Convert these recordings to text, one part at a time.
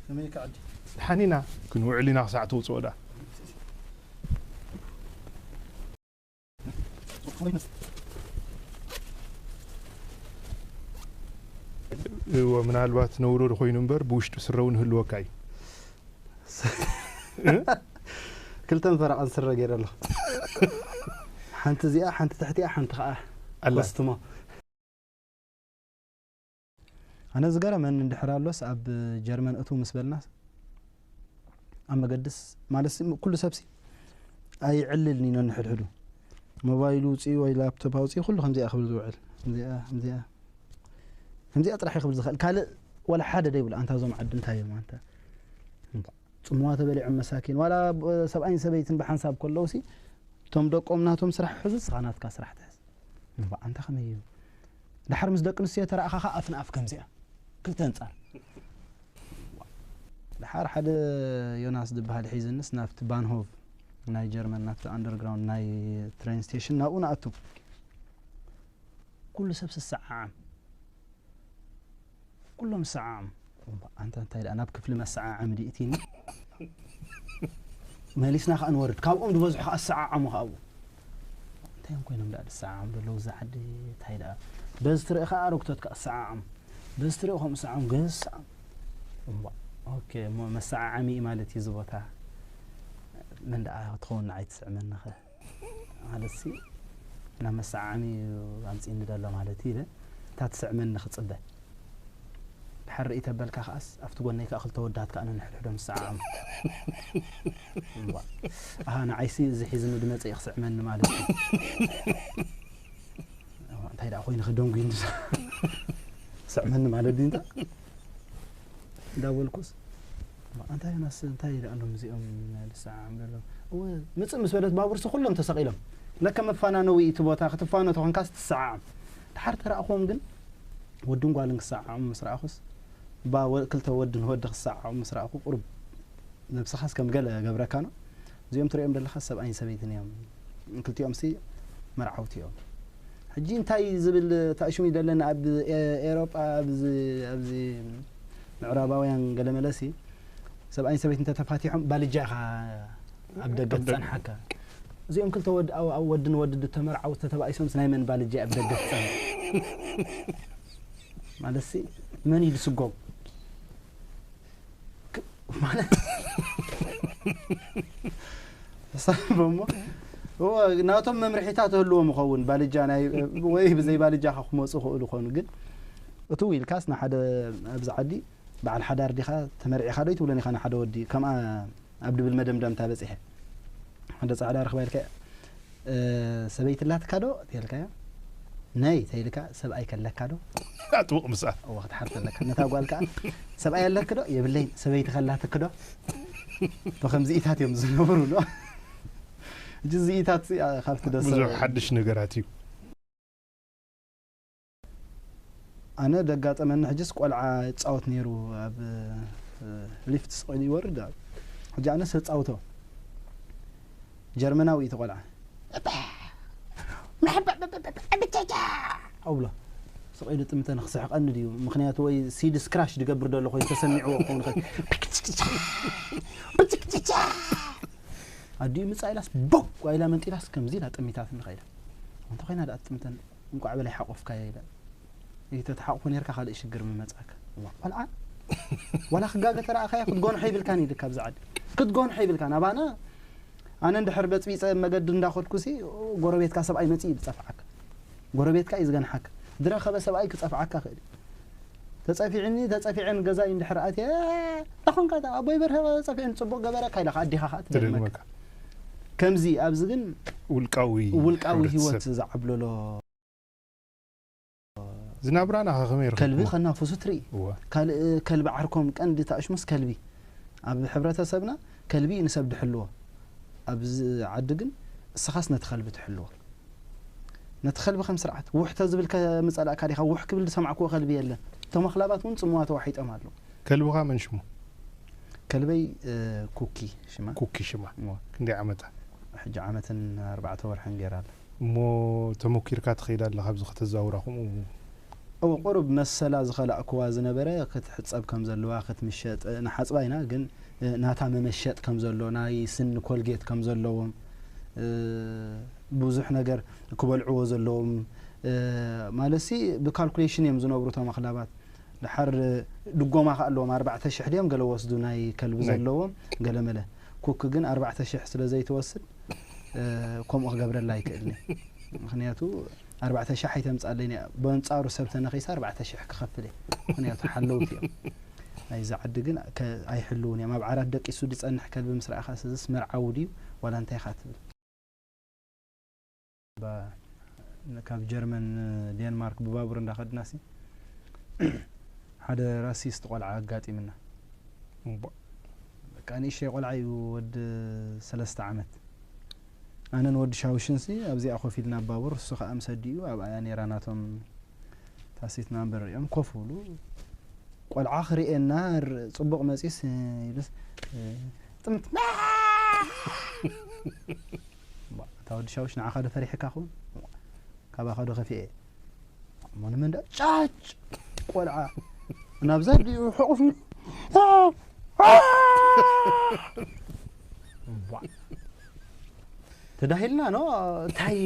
ከመይ ኢካ ዓዲ። ድሓን ኢና ክንውዕል ኢና ክሳዕ ተውጽኦ ድኣ። ምናልባት ነውሮ ኮይኑ እምበር ብውሽጢ ስረ እውን ህልወካ እዩ። ክልተን ፈረቓን ስረ ገይረ ኣለኹ ሓንቲ እዚኣ ሓንቲ ትሕቲኣ ሓንቲ ከዓ ኮስትሞ ኣነ ዝገረመኒ እንድሕር ኣሎስ ኣብ ጀርመን እትው ምስ በልናስ ኣብ መገድስ ማለትሲ ኩሉ ሰብሲ ኣይዕልልን ኢኖ ንሕድሕዱ ሞባይሉ ውፅኡ ወይ ላፕቶፕ ኣውፅኡ ኩሉ ከምዚኣ ክብል ዝውዕል ከምዚኣ ከምዚኣ ከምዚኣ ጥራሕ ክብል ዝኽእል ካልእ ዋላ ሓደ ደይብሉ ኣንታ እዞም ዓዲ እንታይ እዮም ኣንታ ፅምዋ ተበሊዖም መሳኪን ዋላ ሰብኣይን ሰበይትን ብሓንሳብ ከለዉ ሲ እቶም ደቆም ናቶም ስራሕ ሕዙ ስኻ ናትካ ስራሕ ትሕዝ እንኳ ኣንታ ከመይ እዩ ዳሓር ምስ ደቂ ኣንስትዮ ተራእኻ ካኣ ኣፍ ንኣፍ ከምዚኣ ክልተ ኣንጻር ዋእ ዳሓር ሓደ ዮናስ ድባሃል ሒዝንስ ናብቲ ባንሆቭ ናይ ጀርመን ናብቲ ኣንደርግራውንድ ናይ ትሬን ስቴሽን ናብኡ ንኣቱ ኩሉ ሰብ ስሰዓዓም ኩሎም ሰዓዓም ኣንታ እንታይ ደኣ ናብ ክፍሊ መሰዓዓሚ ድዩ እቲኒ መሊስና ከዓ ንወርድ ካብኦም ዝበዝሑ ከዓ ዝሰዓዓሙ ከዓ ኣለዉ እንታይ እዮም ኮይኖም ደኣ ዝሰዓዓሙ ዘለዉ እዛ ዓዲ እንታይ ደኣ በዚ ትርኢ ከዓ ኣረግቶት ከዓ ዝሰዓዓሙ በዚ ትርኢ ከምኡ ሰዓሙ ገዝ ሰዓሙ እሞ ኦኬ እሞ መሰዓዓሚ ማለት እዩ እዚ ቦታ መን ደኣ ትኸውን ንዓይ ትስዕመኒ ኸ ማለትሲ ናብ መሰዓዓሚ እዩ ኣምጺእኒ ዘሎ ማለት እዩ ኢለ እታ ትስዕመኒ ክጽበ ድሓር ርእይ ተበልካ ከኣስ ኣብቲ ጎነይ ከኣ ክልተ ወዳት ከኣ ነንሕድሕዶም ዝሰዓዓሙ ኣሃ ንዓይሲ እዚ ሒዝኒ ድመጸ እዩ ክስዕመኒ ማለት እዩ እንታይ ደኣ ኮይኑ ከደንጉዩ ስዕመኒ ማለት ድዩ እንተ እንዳበልኩስ እንታይ ዮናስ እንታይ ይደኣሎም እዚኦም ልሰዓዓም ዘሎ እወ ምፅእ ምስ በለት ባቡርሲ ኩሎም ተሰቂሎም ለከ መፋናነዊ እቲ ቦታ ክትፋኖ ተኾንካስ ትሰዓዓም ድሓር ተረእኹዎም ግን ወድን ጓልን ክሰዓዓሙ ምስ ረኣኹስ ክልተ ወድን ወዲ ክሰዓዓሙ ምስ ረኣኹ ቁርብ ነብስኻስ ከም ገለ ገብረካ ነው እዚኦም ትሪኦም ዘለኻ ሰብኣይን ሰበይትን እዮም ክልቲኦምሲ መርዓውቲ እዮም ሕጂ እንታይ ዝብል ታእሽሙ ይደለኒ ኣብ ኤሮጳ ኣብዚ ኣብዚ ምዕራባውያን ገለመለሲ ሰብኣይን ሰበይት እንተተፋቲሖም ባልጃ ኢኻ ኣብ ደገ ትጸንሓካ እዚኦም ክልተ ወድ ወድን ወድ ተመርዓው ተተባኢሶምስ ናይ መን ባልጃ ኣብ ደገ ትጸንሕ ማለትሲ መን እዩ ዝስጎም ሳቦሞ ናቶም መምርሒታት ህልዎም ይኸውን ባልጃ ወይ ብዘይ ባልጃ ካ ክመፁ ክእሉ ኾኑ ግን እቱ ኢልካስ ንሓደ ኣብዚ ዓዲ በዓል ሓዳር ዲኻ ተመርዒኻ ዶ ይትብሎን ኢኻ ንሓደ ወዲ ከምኣ ኣብ ድብል መደምዳምታ በፂሐ ሓደ ፃዕዳ ረኽባ ኢልካ ሰበይቲ ኣላትካ ዶ ተልካያ ነይ ተይልካ ሰብኣይ ከለካ ዶ ኣጥብቕ ምስኣ እወ ክትሓርስ ኣለካ ነታ ጓል ከኣ ሰብኣይ ኣለክ ዶ የብለይን ሰበይቲ ከላትክ ዶ ብከምዚኢታት እዮም ዝነብሩ ዶ እጂ ዚኢታት ካብቲ ደሰ ብዙሕ ሓድሽ ነገራት እዩ ኣነ ደጋጠመኒ ሕጅስ ቆልዓ ይጻወት ነይሩ ኣብ ሊፍት ስቕ ኢሉ ይወርድ ኣብ ሕጂ ኣነ ሰጻውቶ ጀርመናዊ እቲ ቆልዓ ኣብሎ ስቕ ኢሉ ጥምተ ንክስሕቀኒ ድዩ ምክንያቱ ወይ ሲዲ ስክራሽ ድገብር ደሎ ኮይኑ ተሰሚዕዎ ክኸውን ይኽእል ኣዲኡ ምጻ ኢላስ ቦ ጓይላ መንጢላስ ከምዚ ኢላ ጠሚታት ንኸኢላ እንተ ኮይና ደኣ ጥምተን እንቋዕ በላይ ሓቆፍካዮ ይበል እይ ተትሓቁፎ ኔርካ ካልእ ሽግር ምመጻካ። እዋ ቆልዓ ዋላ ክጋገ ተራኣኻዮ ክትጎንሖ ይብልካን እዩ ድካ ኣብዚ ዓዲ ክትጎንሖ ይብልካን ኣባና ኣነ እንድሕር በጽቢጸ ኣብ መገዲ እንዳኸድኩሲ ጎረቤትካ ሰብኣይ መጺኡ እዩ ዝጸፍዓካ ጎረቤትካ እዩ ዝገንሓካ ድረኸበ ሰብኣይ ክጸፍዓካ ይኽእል እዩ ተጸፊዕኒ ተጸፊዐ ንገዛይ እንድሕር ኣትየ ኣታ ኮንካ እታ ኣቦይ በርሀ ጸፊዕኒ ጽቡቅ ገበረካ ኢላካ ኣዴኻ ከኣ ትደግመካ ከምዚ ኣብዚ ግን ውልቃዊ ውልቃዊ ህይወት ዝዓብለሎ ዝናብራና ከ ከመይ ርክብዎ ከልቢ ከናፍሱ ትርኢ ካልእ ከልቢ ዓርኮም ቀንዲ ተኣሽሙስ ከልቢ ኣብ ሕብረተሰብና ከልቢ ንሰብ ድሕልዎ ኣብዚ ዓዲ ግን እስኻስ ነቲ ከልቢ ትሕልዎ ነቲ ከልቢ ከም ስርዓት ውሕ ተዝብል ከምጸላእካ ዲኻ ውሕ ክብል ዝሰማዕክዎ ከልቢ የለን እቶም ኣኽላባት ውን ጽምዋ ተዋሒጦም ኣለዉ። ከልብኻ መን ሽሙ? ከልበይ ኩኪ ሽማ። ኩኪ ሽማ እወ ክንደይ ዓመታ? ሕጂ ዓመትን ኣርባዕተ ወርሕን ጌራ ኣላ። እሞ ተሞኪርካ ትኸይድ ኣለኻ ኣብዚ ከተዛውራ ከምኡ? እወ ቁሩብ መሰላ ዝኸላእክዋ ዝነበረ ክትሕጸብ ከም ዘለዋ ክትምሸጥ ንሓጽባ ኢና ግን ናታ መመሸጥ ከም ዘሎ ናይ ስኒ ኮልጌት ከም ዘለዎም ብዙሕ ነገር ክበልዕዎ ዘለዎም ማለትሲ ብካልኩሌሽን እዮም ዝነብሩ እቶም ኣኽላባት ድሓር ድጎማ ከ ኣለዎም ኣርባዕተ ሽሕ ድዮም ገለ ወስዱ ናይ ከልቢ ዘለዎም ገለመለ ኩክ ግን ኣርባዕተ ሽሕ ስለ ዘይትወስድ ከምኡ ክገብረላ ኣይክእልን እዩ ምክንያቱ ኣርባዕተ ሽሕ ኣይተምጻለይን እያ በንጻሩ ሰብ ተነኺሰ ኣርባዕተ ሽሕ ክኸፍል እየ ምኽንያቱ ሓለውቲ እዮም ናይዚ ዓዲ ግን ኣይሕልውን እዮም ኣብ ዓራት ደቂሱ ዝጸንሕ ከልቢ ምስ ረኣኻ ስዝስ መርዓዊ ድዩ ዋላ እንታይ ኢኻ ትብል ካብ ጀርመን ዴንማርክ ብባቡር እንዳኸድና ሲ ሓደ ራሲስት ቆልዓ ኣጋጢምና በቃ ንእሽተይ ቆልዓ እዩ ወዲ ሰለስተ ዓመት ኣነን ወዲ ሻውሽንሲ ኣብዚኣ ኮፍ ኢልና ባቡር እሱ ከኣ ምስ ኣዲኡ ኣብኣያ ኔራ ናቶም ታሲት ናምበር ሪኦም ኮፍ ብሉ ቆልዓ ክርእየና ጽቡቅ መጺስ ይብልስ ጥምት እታ ወዲ ሻውሽ ንዓኻ ዶ ፈሪሕካ ኹን ካባኻ ዶ ከፊኤ እሞ ንመንዳ ጫጭ ቆልዓ ናብዛ ዲኡ ሕቑፍ ተዳሂልና ኖ እንታይ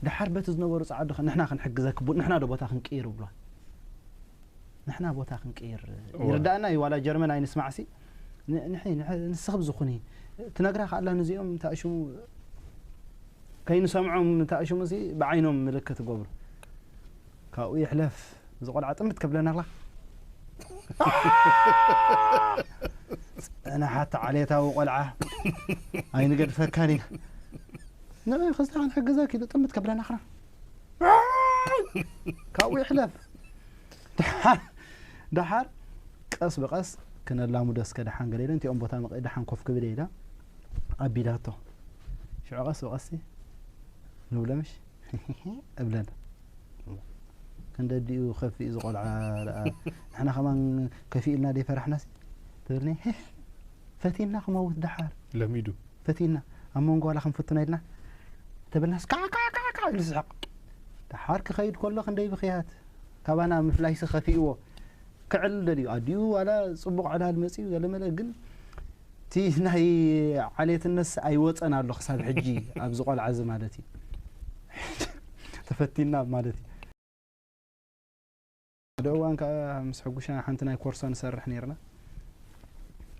ድሓር በቲ ዝነበሩ ፃዓዱ ንሕና ክንሕግዘክ ንሕና ዶ ቦታ ክንቅይር ብሏል ንሕና ቦታ ክንቅይር ይርዳእና እዩ ዋላ ጀርመን ኣይንስማዕሲ ን ንሒ ንሒ ንስኺ ብዝኹኒ ትነግራ ካኣላ ንዚኦም እንታይ እዩ ሽሙ ከይንሰምዖም እንታይ እዩ ሽሙ እዚ ብዓይኖም ምልክት ይገብሩ ካብኡ ይሕለፍ እዚ ቆልዓ ጥምት ከብለና ኣላ ንሓቲ ዓሌታዊ ቆልዓ ኣይንገድፈካን ኢና ንዒ ክስታ ክንሕግዘኪ ኢሉ ጥምት ከብለና ክራ ካብኡ ይሕለፍ ደሓር ቀስ ብቐስ ክነላሙዶ እስከ ደሓን ገለ ኢለ እንቲኦም ቦታ መቐ ደሓን ኮፍ ክብል ኢላ ኣቢላቶ ሽዑ ቀስ ብቐስ ንብለምሽ እብለና ክንደዲኡ ከፊኡ ዝቆልዓ ንሕና ከማን ከፊእልና ደይፈራሕናሲ ትብልኒ ፈቲና ክመውት ደሓር ለሚዱ ፈቲና ኣብ መንጎ ዋላ ክንፍትኖ ኢልና ተበልናስ ካዕካዕካዕካዕ ኢሉ ዝስሕቕ ደሓር ክኸይድ ከሎ ክንደይ ብኽያት ካባና ምፍላይሲ ከፊእዎ ክዕል ደልዩ ኣዲኡ ዋላ ጽቡቕ ዕላል መጽዩ ገለመለ ግን እቲ ናይ ዓሌትነስ ኣይወፀን ኣሎ ክሳብ ሕጂ ኣብዚ ቆልዓ እዚ ማለት እዩ ተፈቲና ማለት እዩ ሓደ እዋን ከኣ ምስ ሕጉሻ ሓንቲ ናይ ኮርሶ ንሰርሕ ኔርና።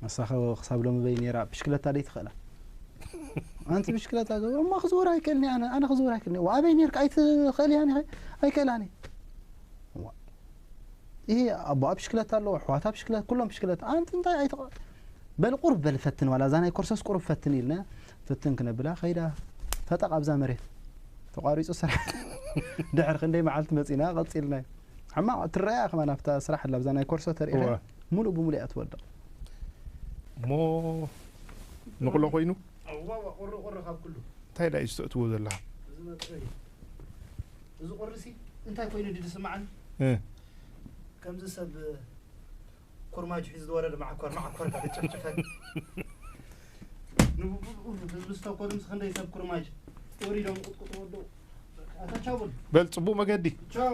ንሳኸ ክሳብ ሎሚ በይ ኔራ ብሽክለታ ደይ ትኽእላ ኣንቲ ብሽክለታ ገ እማ ክዝውር ኣይክእልኒ ኣነ ኣነ ክዝውር ኣይክእልኒ ዋ ኣበይ ኔርካ ኣይትኽእልያን ኢኸ ኣይክእላን እየ እዋ ይሄ ኣቦኣ ብሽክለታ ኣለዎ ኣሕዋታ ብሽክለታ ኩሎም ብሽክለታ ኣንቲ እንታይ ኣይትቕ በል ቁርብ በል ፈትን ዋላ እዛ ናይ ኮርሶስ ቁርብ ፈትን ኢልና ፍትን ክነብላ ከይዳ ፈጠቕ ኣብዛ መሬት ተቋሪጹ ስራሕ ድሕሪ ክንደይ መዓልቲ መጺና ቀጺልናዮ ሕማቕ ትረኣያ ከማን ኣብታ ስራሕ ኣላ ኣብዛ ናይ ኮርሶ ተርእኻ ሙሉእ ብሙሉእ እያ ትወድቕ እሞ ንቕሎ ኮይኑ እንታይ ዳዩ ዝተእትዎ ዘለካ እዚ ቁርሲ እንታይ ኮይኑ ድስማዓኒ ከምዚ ሰብ ኩርማጅ ሒዙ ዝወረደ ማዓኮር ማዓኮር ኢልካ ተጨፍጭፈን ንብብኡ ህዝቢ ዝተኮኑ ምስ ክንደይ ሰብ ኩርማጅ ወሪዶም ቁጥቁጥ ወደው ኣታ ቻው በል በል ጽቡቅ መገዲ ቻው